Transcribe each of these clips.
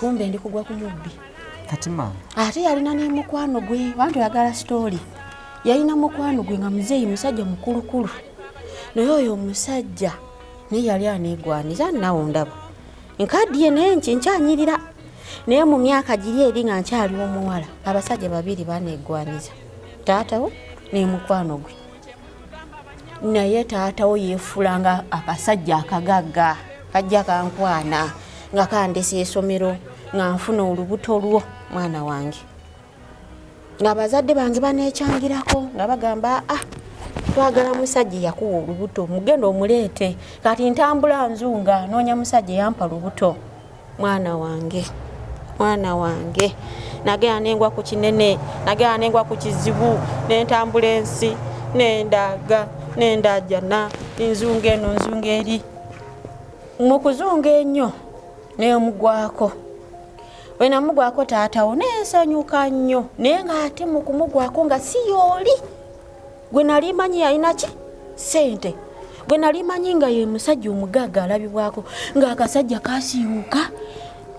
kumbe ndi kugwa ku mubbi kati maama ate yalina n'emukwano gwe bantu yagala sitooli yalina mukwano gwe nga muzeeyi musajja mukulukulu naye oyo omusajja naye yali aneegwaniza nawe ndaba nkaddiye naye nki nkyanyirira naye mu myaka giri eri nga nkyali omuwala abasajja babiri baneegwaniza taatawo n'emukwano gwe naye taatawo yeefulanga akasajja akagagga kajja kankwana nga kandesa esomero nga nfuna olubuto lwo mwana wange ng'abazadde bange baneekyangirako nga bagamba ah twagala musajja eyakuwa olubuto mugenda omuleete kati ntambula nzunga noonya musajja eyampa lubuto mwana wange mwana wange nagenda nengwa ku kinene nagenda nengwa ku kizibu nentambula ensi nendaga nendajana nzunga eno nzunga eri mu kuzunga ennyo nemugwako wenamugwako taatawo nensanyuka nnyo naye nga ate mukumugwako nga siyooli gwe nali manyi yalina ki sente gwe nali manyi nga ye musajja omugagga alabibwako ng'akasajja kasiiwuka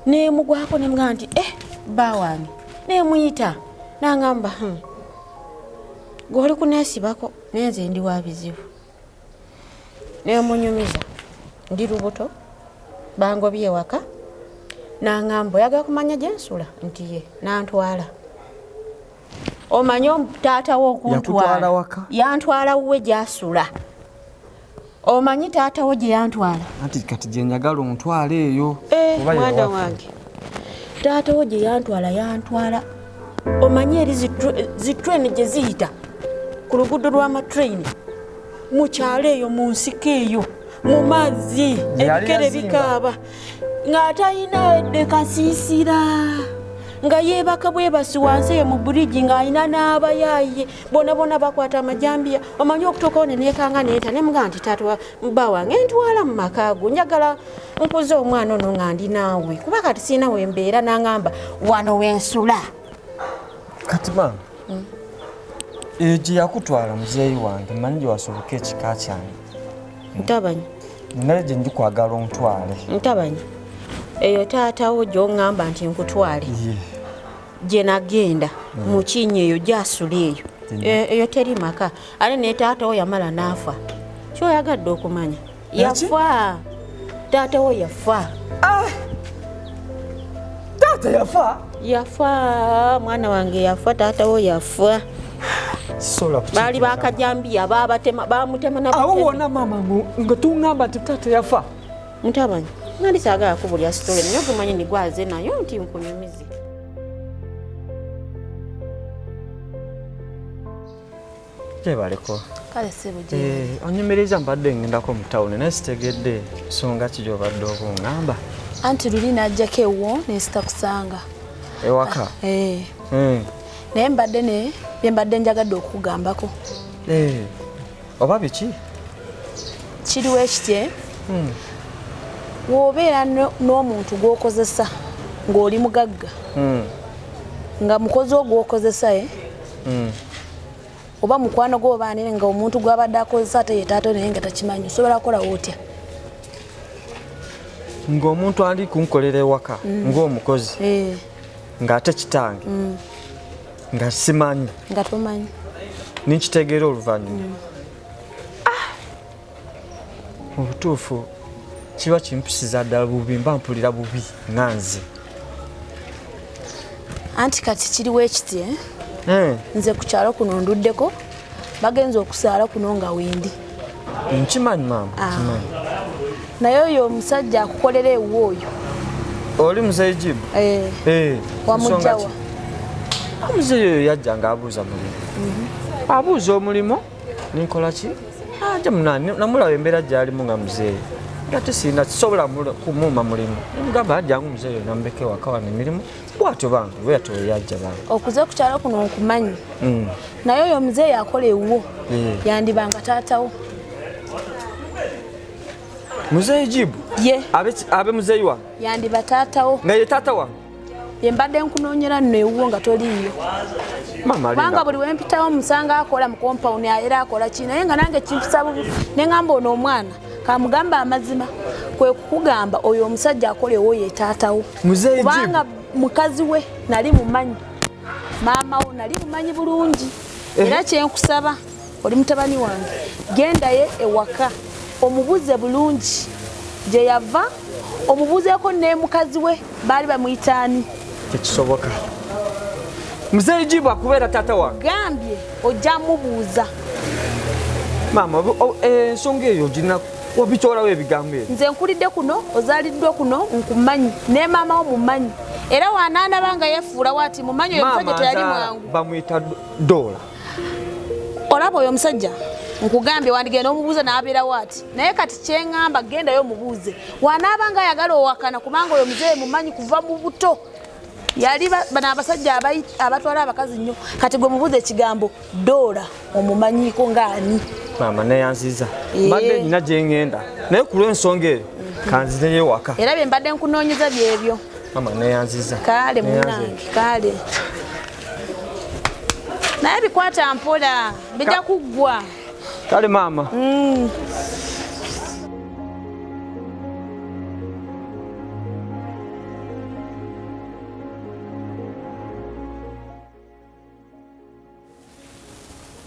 nemugwako nemugamba nti e eh, bba wange nemuyita nangamba hmm, gwe oli kuneesibako naye nze ndi wa bizibu nemunyumiza ndi lubuto bangobi ewaka nangamba oyagala kumanya gyensula nti ye nantwala omanyi taata wo okuntwala waka yantwala wuwe gyasula omanyi taata wo gye yantwala anti kati gye njagala ontwala eyo eh, mwana wange taata wo gye yantwala yantwala omanyi eri zitreni gye ziyita ku luguudo lw'amatreni mu kyalo eyo mu nsiko eyo mu mazzi ebikere bikaaba ng'atalina yadde kasiisira nga yeebaka bwebasi wansi eyo mu buligi ng'alina n'abayaaye bonabona bakwata amajambiya omanyi okutuukawo ne neekanga neeta ne mugaa nti tatwa bba wange ntwala mu maka go njagala nkuza omwana ono nga ndi naawe kuba kati sirina we mbeera n'angamba wano wensula kati maama mm. eyo gye yakutwala muzeeyi wange manyi gye wasoboka ekika kyange ntabanyi nale gye ndi kwagala ontwale ntabanyi eyo taatawo gyongamba nti nkutwale gye nagenda mm. mukinya eyo gyasula eyo e, eyo teri maka ate ne taatawo yamala naafa kyoyagadde okumanya yafa taata wo yafa ah! taata yafa yafa mwana wange yafa taata wo yafa baali bakajambiya babatema bamutemaawo wona mama nga tungamba nti taata yafa mutabani nali sagala kubulya sitole naye ogumanyi nigwaze nayo nti nkunyumize gyebaleko eh, onyumiriza mbadde ngendako mu tawuni naye sitegedde nsonga ki gyobadde oba ongamba anti luli najjako ewo nensita kusanga ewaka eh. hmm. naye mbadde ne byembadde njagadde okukugambako eh. oba biki kiriwo ekitye hmm. wobeera n'omuntu gwokozesa ng'oli mugagga hmm. nga mukozi ogwokozesa e oba mukwano gwo oba anene nga omuntu gwabadde akozesa ate yetaato naye nga takimanyi osobola kukolawo otya ng'omuntu ali kunkolera ewaka mm. ng'omukozi eh. ng'ate kitange mm. nga simanyi nga tomanyi ninkitegeera oluvannyuma mm. mu butuufu kiba kimpisiza ddala bubi mba mpulira bubi nga nze anti kati kiriwo ekiti eh? hmm. nze ku kyalo kuno nduddeko bagenza okusaala kuno nga wendi nkimanyi maama ah. naye oyo omusajja akukolera ewuwo oyo oli muzeyi jibu eh. eh, wamujjawa omuzeyi oyo yajja nga abuuza mulimu mhm. abuuza omulimu ninkola ki aja ah, munani namulaba embeera gyalimu nga muzeeyi ngate sirina kisobola kumuuma mulimu mugamba ajangu muzeeyi namubeke waka wano emirimu bwatyo bambi bweyatyo weyajja bambi okuze okukyalo kuno nkumanyi mm. naye oyo muzeeyi akola ewuwo eh. yandibanga taatawo muzeeyi jibu ye abe muzeeyi wange yandiba taatawo nga ye taata wange yembadde nkunoonyera nno ewuwo nga toliiyo kubanga buli wempitawo musanga akola mu kompawuni era akola ki naye nga nange kimpisa bubi ne ngamba ono omwana kamugamba amazima kwe kukugamba oyo omusajja akola ewoyo etaatawo kubanga mukazi we nali mumanyi maama wo nali mumanyi bulungi eh. era kyenkusaba oli mutabani wange gendaye ewaka omubuze bulungi gyeyava omubuzeeko nemukazi we baali bamuyitaani tekisoboka muzeeyi jibu akubeera taata wange gambye ojja mubuuza maama eh, ensonga eyo ginaku obitolawo ebigambo ebyo nze nkulidde kuno ozaliddwa kuno nkumanyi ne maama wo mumanyi era wanaanaba nga yefuula wati mumanyi oyo musajja teyali mwangu bamuyita doola olaba oyo omusajja nkugambye wandigenda omubuuza nabeera waati naye kati kyeŋamba gendayo omubuuze wanaaba nga ayagala owakana kubanga oyo muzeeyi mumanyi kuva mu buto yali bano abasajja abatwala abakazi nnyo kati gwe mubuuza ekigambo doola omumanyiiko ngaani maama neyanziza eh. mbadde nyina gyeŋenda naye ku lwensonga eyo mhm. kanzizeyo waka era bye mbadde nkunoonyeza byebyo maama neyanziza kaale munange kaale naye bikwata mpola bijja kuggwa kale maama mm.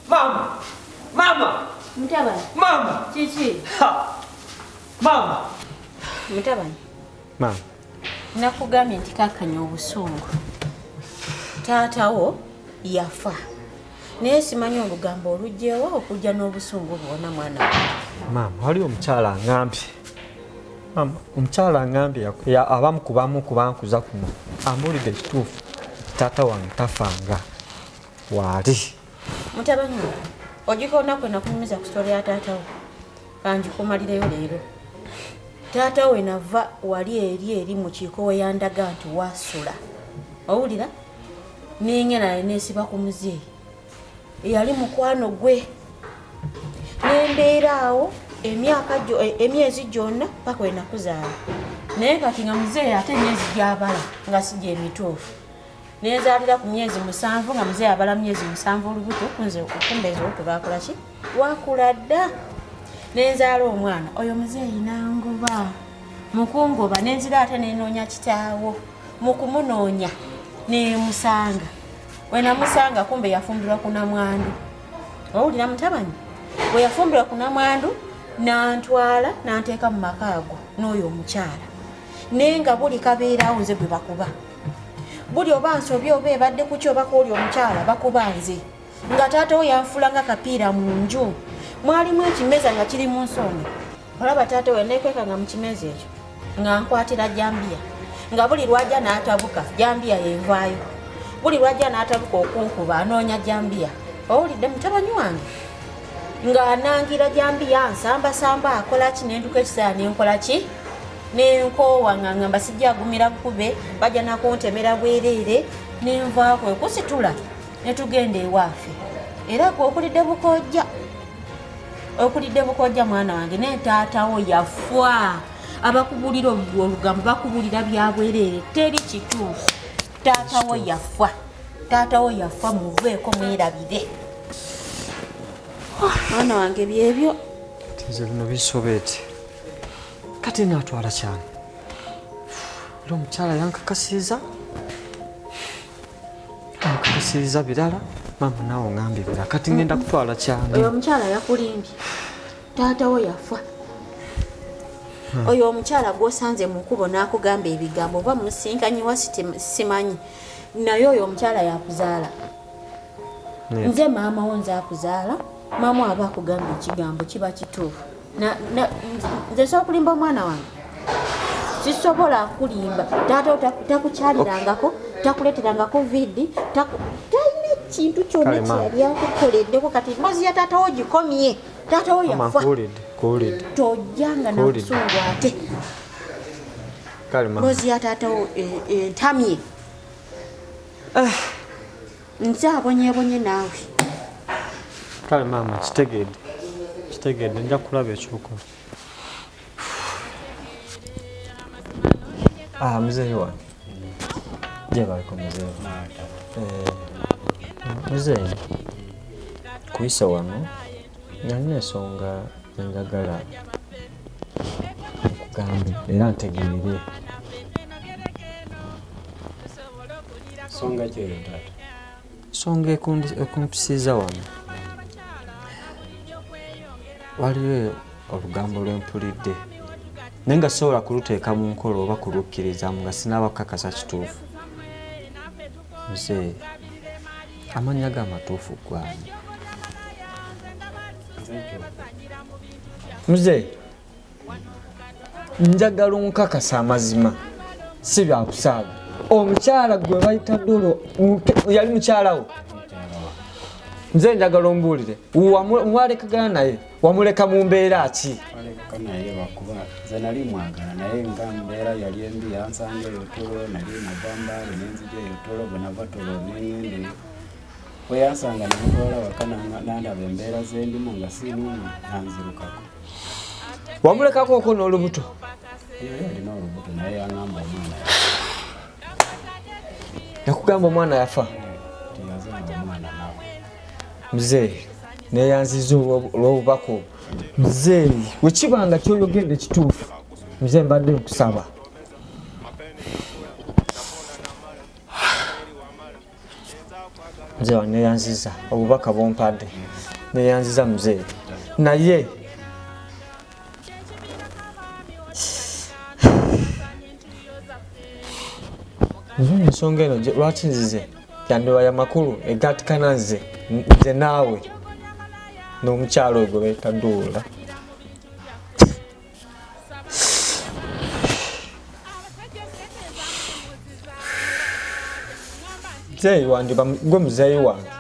Mama. Mama. Mama. nakugambye nti kakanya obusungu taatawo yafa naye simanyi olugambo olugyewo okujja n'obusungu bwona mwana maama waliwo omukyala angambye maama omukyala angambye abamu kubamu kubankuza kuno ambuulidde ekituufu taata wange tafanga waali mutabani ogikoona kwe nakunyumiza ku sitole ya taatawo kanjikumalireyo leero taata we nava wali eri eri mu kiiko we yandaga nti wasula owulira ninge naye nesiba ku muzeeyi eyali mukwano gwe nembeera awo emyaka e, emyezi gyonna paka wenakuzaala naye kati nga muzeeyi ate emyezi gyabala nga si gyemituufu nenzaalira ku myezi musanvu nga muzeeyi abala myezi musanvu olubuto kunze okumba eziwutu lwakula ki lwakula dda nenzaala omwana oyo muzeeyi nangoba mukungoba nenzira ate nenoonya kitaawo mukumunoonya nemusanga wenamusanga kumbe yafumbirwa kunamwandu owulira mutabani weyafumbirwa kunamwandu nantwala nanteeka mu maka ago n'oyo omukyala naye nga buli kabeerawo nze gwe bakuba buli oba nsobi oba ebadde kuki oba kuoli omukyala bakuba nze nga taata wo yanfula nga kapiira mu nju mwalimu ekimeza nga kiri mu nsonda olaba taata we nekweka nga mu kimeza ekyo nga nkwatira jambiya nga buli lwajja n'atabuka jambiya yenvaayo buli lwajja n'atabuka okunkuba anoonya jambiya owulidde mutabanyi wange ng'anangira jambiya nsambasamba akola ki nenduka ekiseera nenkola ki nenkoowa nga ngamba sijagumira kube bajja nakuntemera bwereere nenvaako ekusitula netugenda ewaafe era gwe okulidde bukojja okulidde bukojja mwana wange naye taatawo yafwa abakubulira olugambo bakubulira byabwereere teri kituufu taatawo yafwa taatawo yafwa muveeko mwerabire mwana wange byebyo nze bino bisobeti kati naatwala kyana era omukyala yankakasiiza ankakasiiza birala maama naawe ongambye birala kati ngenda kutwala kyana oyo omukyala yakulimbye taatawo yafa Hmm. oyo omukyala gwosanze mu nkubo n'akugamba ebigambo oba musisinkanyiwa simanyi naye oyo omukyala yakuzaala nze maama wo nze akuzaala maama aba akugamba ekigambo kiba kituufu nze nsobola okulimba omwana wange sisobola kulimba taata takukyalirangako takuleterangako vidi talina ekintu kyona kyeyali akukoleddeko kati mbozi ya taata wo gikomye taata wo yafa tojjanga nakusungu ate mbozi ya taata wo entamye eh, eh. nze abonyebonye naawe kale maama kitegedde kitegedde nja kulaba ekyokola ah, muzeeyi wange jebaliko muzeeyi eh, muzeeyi kuyisa wano nalina ensonga enjagala okugambe era ntegeere songa kyeyo taata songa ekumpisizza wano waliwo olugambo lwempulidde naye nga sisobola kuluteeka mu nkola oba kulukkirizamu nga sinaaba kukakasa kituufu nze amannya ga matuufu gwani muzeeyi njagala onkakasa amazima si byakusaaga omukyala gwe bayita dolo yali mukyalawo nze njagala ombuulire mwalekagana naye wamuleka mu mbeera ki naye bakuba nze nali mwagala naye nga mbeera yali embi yansanga eyo tolo nali nava mbaale nenzija eyo tolo bwenava tolo nengende weyansanga nemutwala waka nandaba embeera zendimu nga sinumu nanzirukako wamulekako oko n'olubuto nakugamba omwana yafa mzee neyanziza olwobubaka obwo mzee wekiba nga kyoyogedde kituufu mzee mbadde nkusaba mzee wange neyanziza obubaka bumpadde neyanziza mzee naye ensonga eno lwaki nzize yandiba ya makulu egatikana nze nze naawe n'omukyalo ogwo betaduula muzeeyi wange gwe muzeeyi wange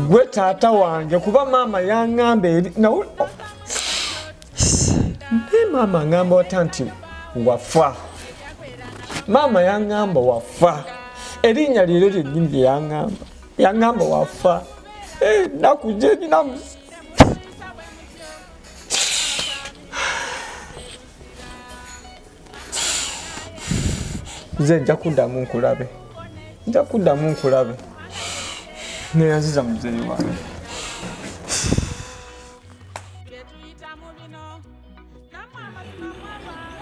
gwe taata wange kuba maama yaŋamba eri nawe naye maama aŋamba wata nti wafa maama yaŋamba wafa erinnya lyeero lyennyini lyeyaŋamba yaŋamba wafa eh, nakugyeninamusa nze nja kuddamu nkulabe nja kuddamu nkulabe neyaziza muzeeyi wange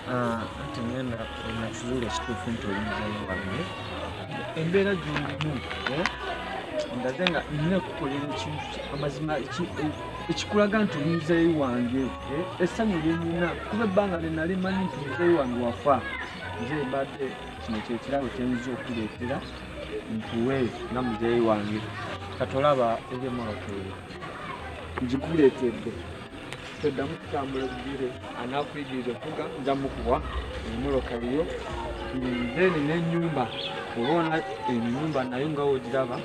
Ah, ate ngenda nakizuula ekituufu nti olinzayo wange embeera gyolimu eh? ndaze nga nina okukolera ekintu amazima ekikulaga nti olinzayo wange eh? essanyu lyenina kuba ebbanga lyenali manyi nti olinzayo wange wafa nze mbadde kino kyekirabo kyenyiza okuleetera nkuwe nga muzeeyi wange katolaba ebyemolokeere ngikuleetedde toddamu kutambula bigere anakuyigiriza okuvuga nja mukuwa emoloka yo then nenyumba olwona enyumba nayo nga ogiraba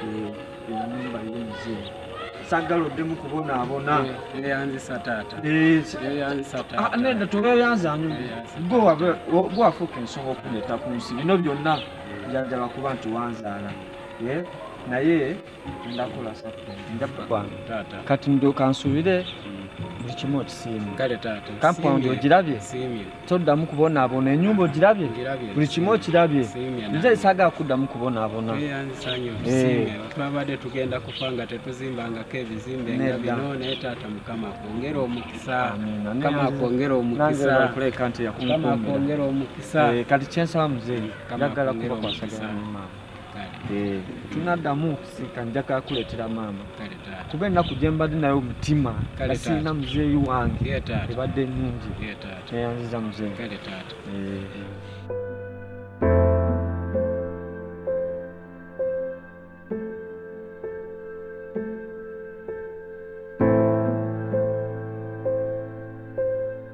eh, enyumba yo muzee sagala oddemu kubonaabona eyanzisa taata eyanzisa eh, taata ah, nedda tobeyanzanyu gwewafuuka ensonga okuleeta ku nsi bino byonna njanjaba kuba nti wanzaala eh, naye kati ndo kansubire buli kimu okisiimye kampawundi ogirabye toddamu kubonaabona enyumba ogirabye buli kimu okirabye nze esaga kuddamu kubonaabona eh. twabadde tugenda kufa nga tetuzimbangako ebizimbe nga bino naye taata mukama kwongera omukisa mukama kwongera omukisa kati kyensaba muzeeyi njagala kubakwasagana maama Eh, tunaddamu okusika njagala kuleetera maama kuba ennaku gye mbadde naye omutima nga sirina muzeeyi wange ebadde nnungi neyanziza muzeeyi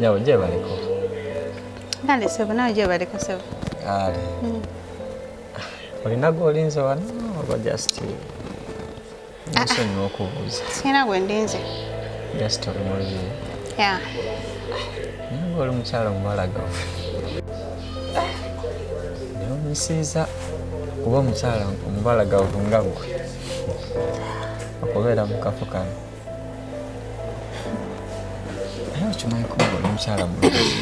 Nyabo je baliko. Kale sebo nawe je baliko sebo. Kale. Mm. Olina gwolinze wano oba just nsonyiwa okubuuza. Sirina gwe ndinze. Just oli mulimi. Yeah. Naye oli mukyala omubalagavu. newunyisiza kuba omukyala omubalagavu nga gwe okubeera mu kafo kano naye okimanyi kuba oli mukyala mulungi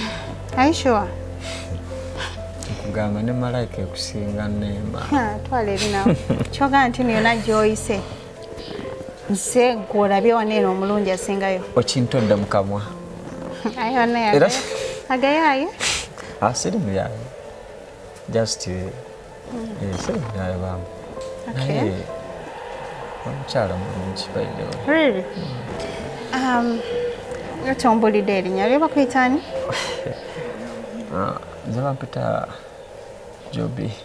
aishoa kugamba ne malayika ekusinga nema twala ebinawo kyoga nti niyona gyoyise nse gwolabye wano eno omulungi asingayo okintodde mukamwa agayaye asiri ah, muyaye just eh, hmm. eh, siri muyaye bamba naye omukyala mulungi baidewe um, otombulidde erinya lyo bakuyitani ah, nze bampita jobi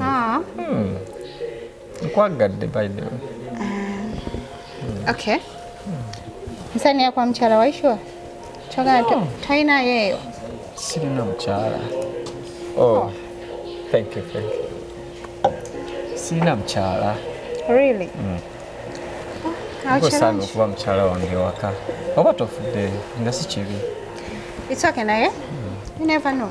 Ah. Hmm. Nkwagadde by the way. Uh, okay. Hmm. Nsani ya kwa mchara waishwa? Choga no. Taina yeyo. Sirina mchara. Oh. oh. Thank you, thank you. Sirina mchara. Really? Mm. Nkusanga okuba mukyala wange waka oba tofudde nga si kibi. It's okay naye. Hmm. You never know.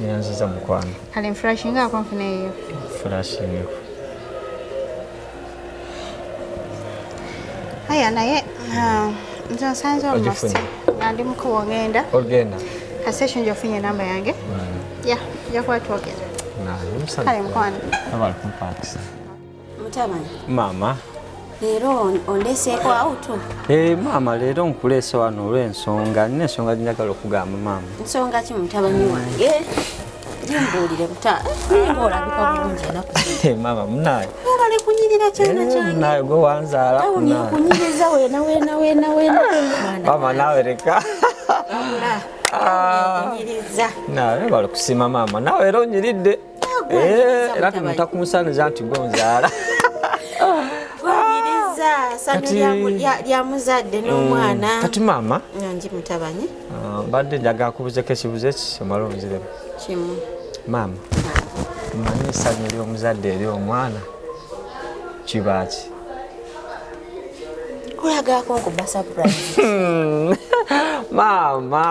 Nyanziza mukwano. Kale mflashinga ako nfune eyo. Flashing. Haya naye ah, nze nsanze almost. Ogifunye? Andi mukubo ngenda. Ogenda. Kasesho nja ofunye namba yange. Ya, nja kuba twogera. Naye Kale mukwano. Abali kumpakisa. Mutabani. Mama. Leero ondeseeko awutu? Ee eh, maama leero nkuleese wano olw'ensonga nina ensonga ginjagala okugamba maama. Nsonga ki mutabani wange? Jimbuulire buta ninga olabika bulungi enaku zino. Maama munaye. Webale kunyirira kyana eh, kyange. Munaye gwe wanzaala. Tawuni okunyiriza wena wena wena wena. Maama nawe leka. Wabula. Ah. Nawe bali kusiima maama nawe era onyiridde. era tumita ku musanuza nti gwe nzaala lyamuzadde mm. n'omwana kati maama ngi mutabani ah, mbadde njagala kubuzeko ekibuzo eki omala omuziremu kimu maama mmanyi esanyu ly'omuzadde eri omwana kibaaki olagalako nkuba surprise maama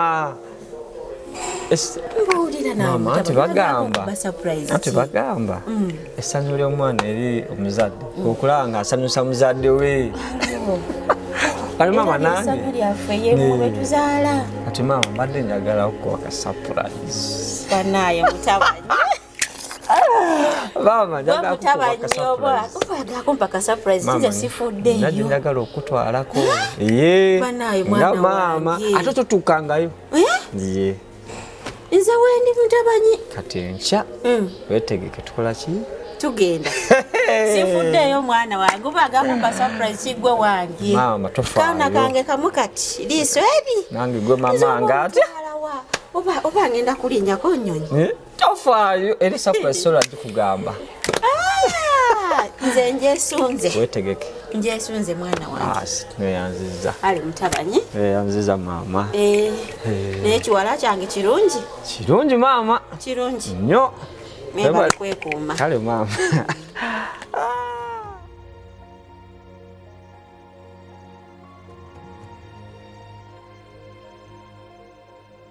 tebagamba mm. essanyu ly'omwana eri omuzadde okulaba nga asanyusa muzadde we alimama nangeatimaama mbadde njagala okukuwa ka surprise banaye mutabanyi maama njagala okutwalako nga maama ate totuukangayo eh? nze wendi mutabanyi kati enkya hmm. wetegeke tukola ki tugenda sifuddeeyo omwana wange oba agakuba surprise kigwe wange kaana kange kamu kati liiso eri nange gwe mama ngaate oba ngenda kulinyako nyonyi eh? tofaayo era esapu esola gikugamba ah, nze njesunze wetegeke njesunze mwana wangeneyanziza ah, ali mutabanyi neyanziza maama eh, eh. naye kiwala kyange kirungi kirungi maama kirungi nyo mebali kwekuuma kale maama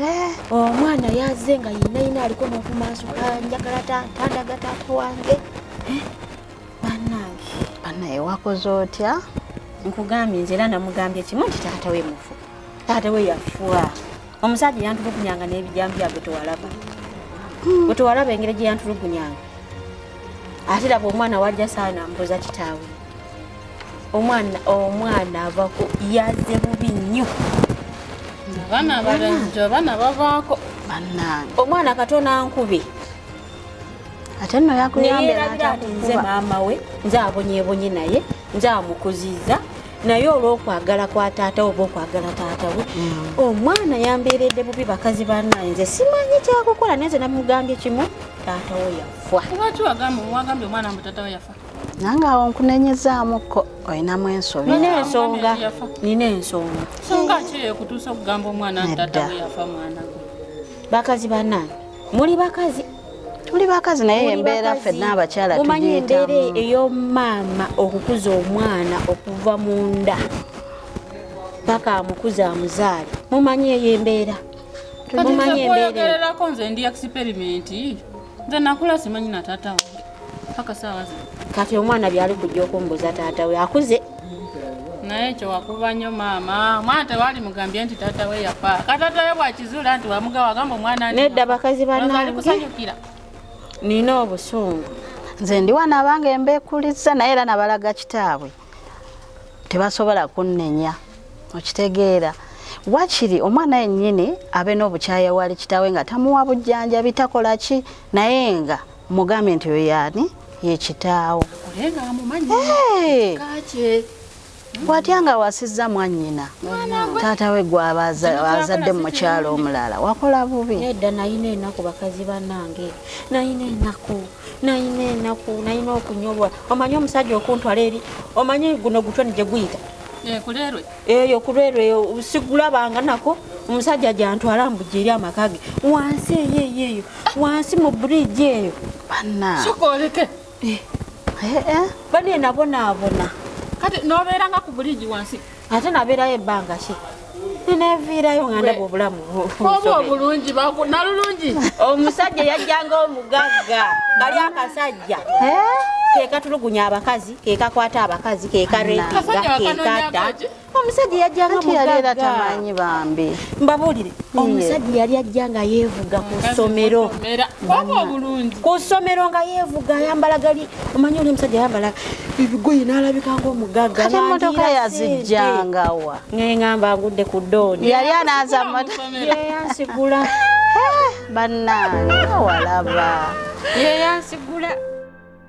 Eh, omwana yaze nga yinayina aliko nokumansuka njagala tandaga taata wange eh, banange banaye wakoze otya nkugambye nze era namugambye kimu nti taata we mufu taata we yafuwa omusajja yantulugunyanga n'ebijambya gwe tewalaba hmm. gwe tewalaba engeri gye yantulugunyanga ate laba omwana wajja saana mbuza kitaawe omwana omwana avako yaze bubi nnyo abaana abalenzi abaana bavaako bannange omwana katona nkubi ate nno yakuyambeyerabira nti nze maama we nze abonyebonye naye nze amukuziza naye olwokwagala kwa taata oba okwagala taata we mm. omwana yambeeredde bubi bakazi banaye nze simanyi kyakukola naye nze namugambye kimu taata we yafa nange awo nkunenyezaamuko olinamu ensobi nina ensonga nina ensonga songa ki ekutuusa okugamba omwana ntata yafa mwana gwe bakazi banange muli bakazi tuli bakazi naye embeera fenna abakyala omanyi embeera eyomaama okukuza omwana okuva mu nda paka amukuza amuzaale mumanyi eyo embeera mumanyi embeeraerako nze ndi experiment nze nakula simanyi natatawo kati omwana byali kujja okumbuza taata we akuze naye ekyo wakuba nnyo maama omwana tewali mugambye nti taata we yafa kataata we bwakizuula nti wamugawa agamba omwana nedda bakazi banali kusanyukira nina obusungu nze ndiwa nabange embekuliza naye era nabalaga kitaabwe tebasobola kunnenya okitegeera wakiri omwana yennyini abe n'obukyaya wali kitaawe nga tamuwa bujjanjabi takola ki naye nga Mugambe nti oyo yani ye kitaawo. Olenga amumanyi. Hey. Kache. Watya nga wasizza mwannyina taata we gwabazadde mu mukyalo omulala wakola bubi nedda nayina enaku bakazi banange nayina enaku nayina enaku nayina okunyolwa omanyi omusajja okuntwala eri omanyi guno gutwe ni gye guyita eh, eyo kulwelwe sigula banga nako omusajja gyantwala mbuja eri amaka ge wansi eyo eyo eyo wansi mu bridge eyo sokoleke eh. eh, eh. bane nabonaabona kati nobeeranga ku buligi wansi ate nabeerayo ebbanga ki neneviirayo nga ndaba obulamu oba obulungi nalulungi omusajja yajjanga omugagga bali akasajja kekatulugunya abakazi kekakwata abakazi kekarepigakekata omusajja yajjanga mugagga tamanyi bambi mbabuulire omusajja yali ajja nga yeevuga ku ssomero ku ssomero nga yeevuga ayambala gali omanyi oli omusajja ayambala ebigoyi n'alabika ngaomugagga ate emmotoka yazijjangawa nengamba ngudde ku dooni yali anaaza motoyayansigula bannange awalaba yeyansigula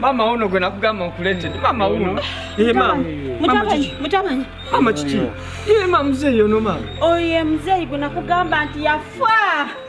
Mama uno gwe nakugamba nkuleetedde mama uno eh, mutamanyi mama kiki ye eh, ma muzeeyi ono mama oyo ye muzeeyi gwe nakugamba nti yafa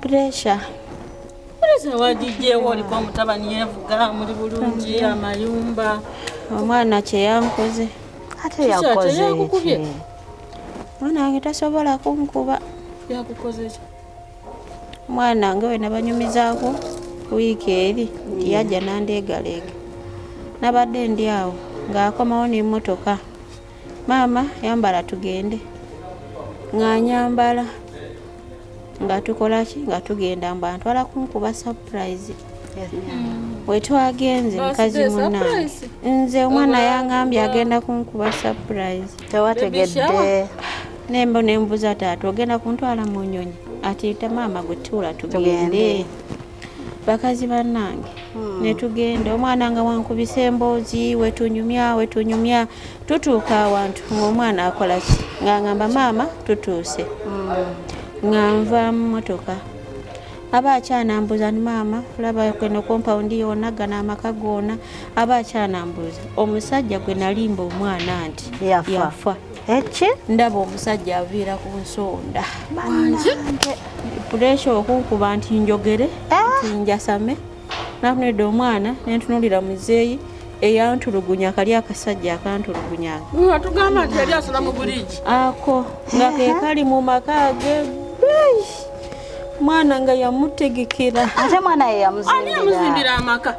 Pressure. Pressure wagijeewo oliko omutabani yevuga muli bulungi amayumba. Omwana kye yankoze. Ate yakoze ki? Mwana wange tasobola kunkuba. Yakukoze ki? Mwana wange we nabanyumizaako wiiki eri nti yajja nandeegaleega. Nabadde ndi awo ng'akomawo n'emmotoka. maama yambala tugende ng'anyambala nga tukolaki nga tugenda mbu antwala kunkuba surprise mm. wetwagenze mukazi muna nze omwana yangambye agenda kunkuba surprise tewategedde nembo nembuza taata ogenda kuntwala mu nyonyi ati tamaama gwe tuula tugende bakazi banange hmm. netugenda omwana nga wankubisa emboozi wetunyumya wetunyumya tutuuka awantu ngaomwana akolaki nga ngamba maama tutuuse hmm. nga nva mumotoka aba akyanambuuza ni maama olaba kweno kompawundi yona gana amaka gona aba akyanambuuza omusajja gwe nalimba omwana nti yafa Eki ndaba omusajja aviira ku nsonda wangi puresha okunkuba nti njogere eh? nti njasame nakunedda omwana nentunulira muzeeyi eyantulugunya kali akasajja akantulugunya atugamba nti yali asula mu buligi ako nga kekali mu maka ge mwana nga yamutegekera ate mwana yeyamuzimbira amaka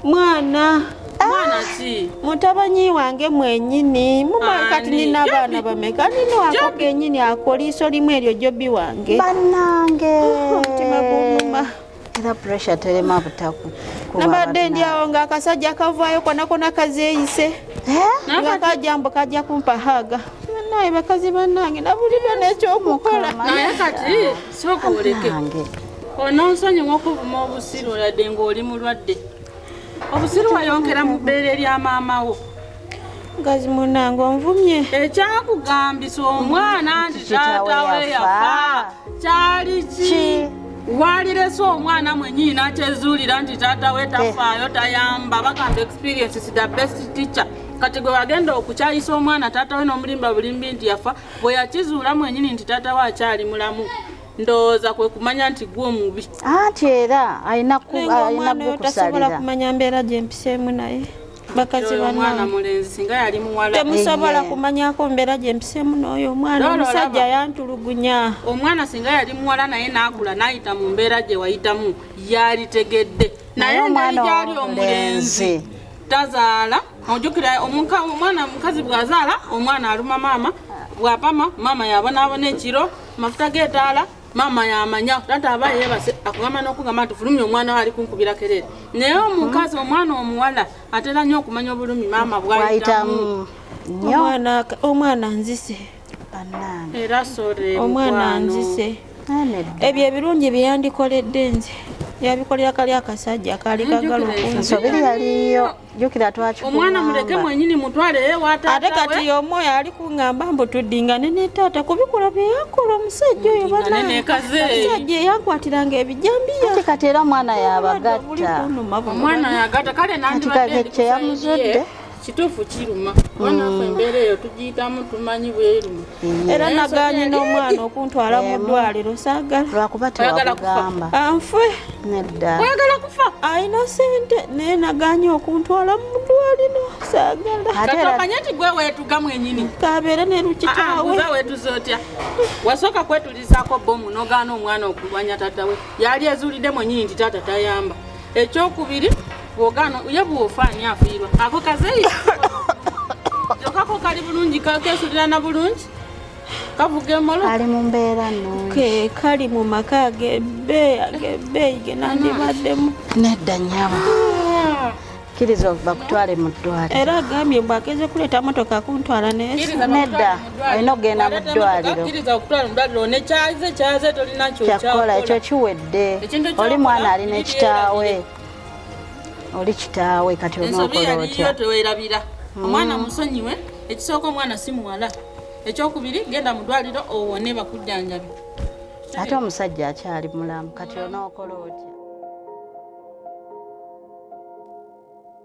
mwana ah! mwana ki mutabanyi wange mwenyini mumanyi kati nina abaana bameka nina wako kenyini akoliiso limu eryo jobi wange banange oh, omutima gumuma era pressure terema butaku nabadde ndi awo nga akasajja kavaayo konakona kazeeyise eh? nga kajja mbu kajja kumpa haga naye bakazi banange nabulidwa nekyokukola naye kati soka oleke ononsonyiwa okuvuma obusiru oladde ng'oli mulwadde obusiru wayongera mu bbeere lya maama wo mukazi munange onvumye ekyakugambisa omwana nti taata we yafa kyali ki walirese omwana mwenyini nakyezuulira nti taata we tafaayo tayamba bagamba experience is the best teacher kati gwe wagenda okukyayisa omwana taata we n'omulimba bulimbi nti yafa bwe yakizuula mwenyini nti taata we akyali mulamu ndowooza kwe kumanya nti gwe omubi anti era alina kukusalira kumanya mbeera gye mpiseemu naye bakazi temusobola kumanyako mbeera gye mpiseemu n'oyo omwana omusajja yantulugunya omwana singa yali muwala naye n'akula n'ayita mu mbeera gye wayitamu yalitegedde naye omwana gyali omulenzi tazaala ojukira omwana mukazi bw'azaala omwana aluma maama bwapama maama yabonaabona ekiro mafuta g'etaala maama yamanya tata aba yebase akugamba n'okugamba nti fulumya omwana we ali kunkubira kerere naye omukazi omwana omuwala atera nnyo okumanya obulumi maama bwayitamu omwana nzise era sore omwana nzise ebyo ebirungi byeyandikoledde nze yabikolera kali akasajja kaali kagala okunsobiri yaliyo jukira twakikuba omwana muleke mwenyini mutwale ewataatawe ate kati y'omu oyo ali kungamba mbu tuddingane ne taata kubikola bye yakola omusajja oyo banamusajja eyakwatiranga ebijambiya kati kati era omwana yabagatta omwana yagatta kale nandibadde kyeyamuzudde kituufu kiruma mm. wanafe embeera eyo tugiyitamu tumanyi bweruma era nagaanye n'omwana okuntwala mu ddwaliro saagala lwakuba tewakugamba anfwe nedda oyagala kufa alina sente naye nagaanye okuntwala mu ddwaliro saagala katomanye nti gwe weetuga mwenyini kabeere ne lukitaawe ah, ah, weetuza otya wasooka kwetulizaako bomu nogaana omwana okulwanya taata we yali ezuulidde mwenyini nti taata tayamba ekyokubiri Bwogano uye bwofa ani afiirwa ako kazeyi jokako kali bulungi kesulirana bulungi kavuga emolo kali mu mbeera nungi kali mu maka agebeeyi agebeeyi genandibaddemu nedda nyabo ah. kiriza okuva kutwale mu ddwaliro era agambye mbu ageze kuleeta motoka kuntwala nedda olina okugenda mu ddwaliro kyakukola ekyo kiwedde oli mwana alina ekitaawe oli kitaawe kati ensobi yaliyo tewerabira mm. omwana musonyiwe ekisooka omwana si muwala ekyokubiri genda mu ddwaliro owone bakujjanjabi ate omusajja akyali mulamu kati onookola otya